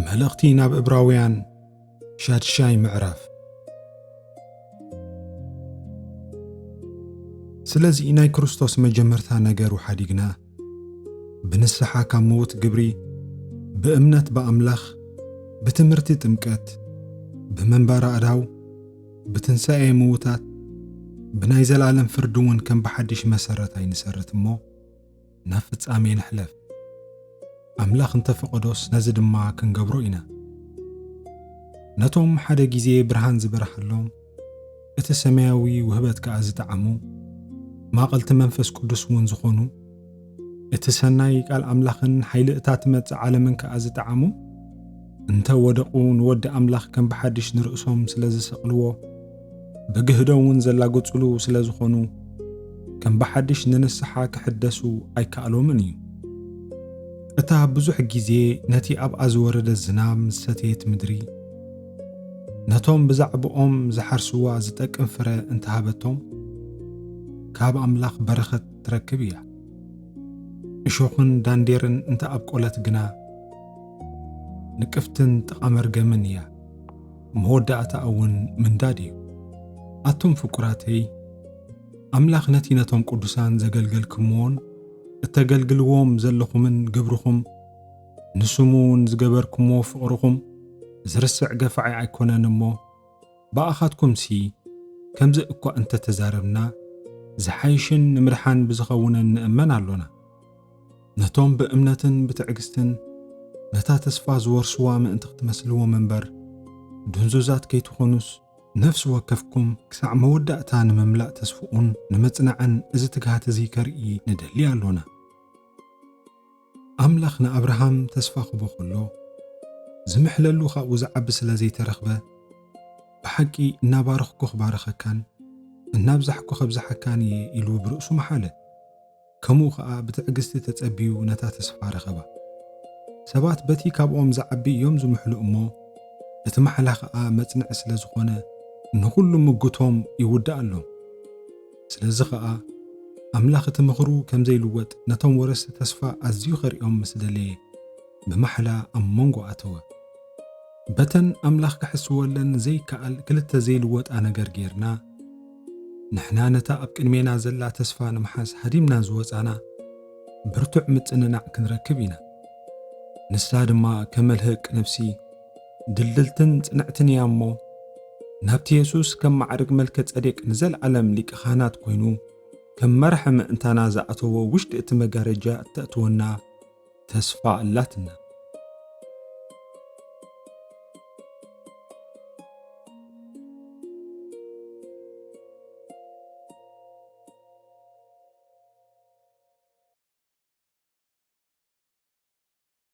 መልእኽቲ ናብ እብራውያን ሻድሻይ ምዕራፍ ስለዚ ናይ ክርስቶስ መጀመርታ ነገሩ ሓዲግና ብንስሓ ካብ ምዉት ግብሪ ብእምነት ብኣምላኽ ብትምህርቲ ጥምቀት ብመንባር ኣእዳው ብትንሣኤ ምዉታት ብናይ ዘለዓለም ፍርዲ እውን ከም ብሓድሽ መሰረት ኣይንሰርት እሞ ናብ ፍጻሜ ንሕለፍ ኣምላኽ እንተፈቐዶስ ነዚ ድማ ክንገብሮ ኢና ነቶም ሓደ ጊዜ ብርሃን ዝበርሃሎም እቲ ሰማያዊ ውህበት ከኣ ዝጠዓሙ ማቐልቲ መንፈስ ቅዱስ እውን ዝኾኑ እቲ ሰናይ ቃል ኣምላኽን ሓይሊ እታ ትመጽእ ዓለምን ከኣ ዝጠዓሙ እንተ ወደቑ ንወዲ ኣምላኽ ከም ብሓድሽ ንርእሶም ስለ ዝሰቕልዎ ብግህዶ እውን ዘላግጹሉ ስለ ዝኾኑ ከም ብሓድሽ ንንስሓ ክሕደሱ ኣይከኣሎምን እዩ እታ ብዙሕ ግዜ ነቲ ኣብኣ ዝወረደ ዝናብ ምስ ሰተየት ምድሪ ነቶም ብዛዕባኦም ዝሓርስዋ ዝጠቅም ፍረ እንተሃበቶም ካብ ኣምላኽ በረኸት ትረክብ እያ። እሾኽን ዳንዴርን እንተ ኣብቆለት ግና ንቅፍትን ጥቓ መርገምን እያ፣ መወዳእታኣ እውን ምንዳድ እዩ። ኣቱም ፍቁራተይ፣ ኣምላኽ ነቲ ነቶም ቅዱሳን ዘገልገልክምዎን እተገልግልዎም ዘለኹምን ግብርኹም ንስሙ እውን ዝገበርክምዎ ፍቕርኹም ዝርስዕ ገፋዒ ኣይኮነን እሞ፣ ብኣኻትኩምሲ ከምዚ እኳ እንተ ተዛረብና፣ ዚሓይሽን ንምድሓን ብዚኸውንን ንእመን ኣሎና። ነቶም ብእምነትን ብትዕግስትን ነታ ተስፋ ዚወርሱዋ ምእንቲ ኽትመስልዎም እምበር፣ ድንዙዛት ከይትዀኑስ፣ ነፍሲ ወከፍኩም ክሳዕ መወዳእታ ንምምላእ ተስፋኡን ንምጽናዕን እዚ ትግሃት እዚ ከርኢ ንደሊ ኣሎና። ኣምላኽ ንኣብርሃም ተስፋ ክህቦ ከሎ፣ ዝምሕለሉ ካብኡ ዝዓቢ ስለ ዘይተረኽበ፣ ብሓቂ እናባረኽኩ ክባርኸካን እናብዛሕኩ ከብዝሓካን እየ ኢሉ ብርእሱ መሓለ። ከምኡ ኸኣ ብትዕግስቲ ተጸብዩ ነታ ተስፋ ረኸባ። ሰባት በቲ ካብኦም ዝዓቢ እዮም ዝምሕሉ እሞ፣ እቲ ማሕላ ኸኣ መጽንዒ ስለ ዝኾነ ንኹሉ ምጉቶም ይውድኣሎም። ስለዚ ኸኣ ኣምላኽ እቲ ምኽሩ ከም ዘይልወጥ ነቶም ወረስቲ ተስፋ ኣዝዩ ኸርእዮም ምስ ደለየ፣ ብማሕላ ኣብ መንጎ ኣተወ። በተን ኣምላኽ ክሕስወለን ዘይከኣል ክልተ ዘይልወጣ ነገር ጌርና፣ ንሕና ነታ ኣብ ቅድሜና ዘላ ተስፋ ንምሓዝ ሃዲምና ዝወጻና ብርቱዕ ምጽንናዕ ክንረክብ ኢና። ንሳ ድማ ከመልህቅ ነፍሲ፣ ድልድልትን ጽንዕትን እያ እሞ ናብቲ የሱስ ከም ማዕርግ መልከ ጸዴቅ ንዘለዓለም ሊቀ ካህናት ኮይኑ ከም መራሒ ምእንታና ዝኣተዎ ውሽጢ እቲ መጋረጃ እተእትወና ተስፋ ኣላትና።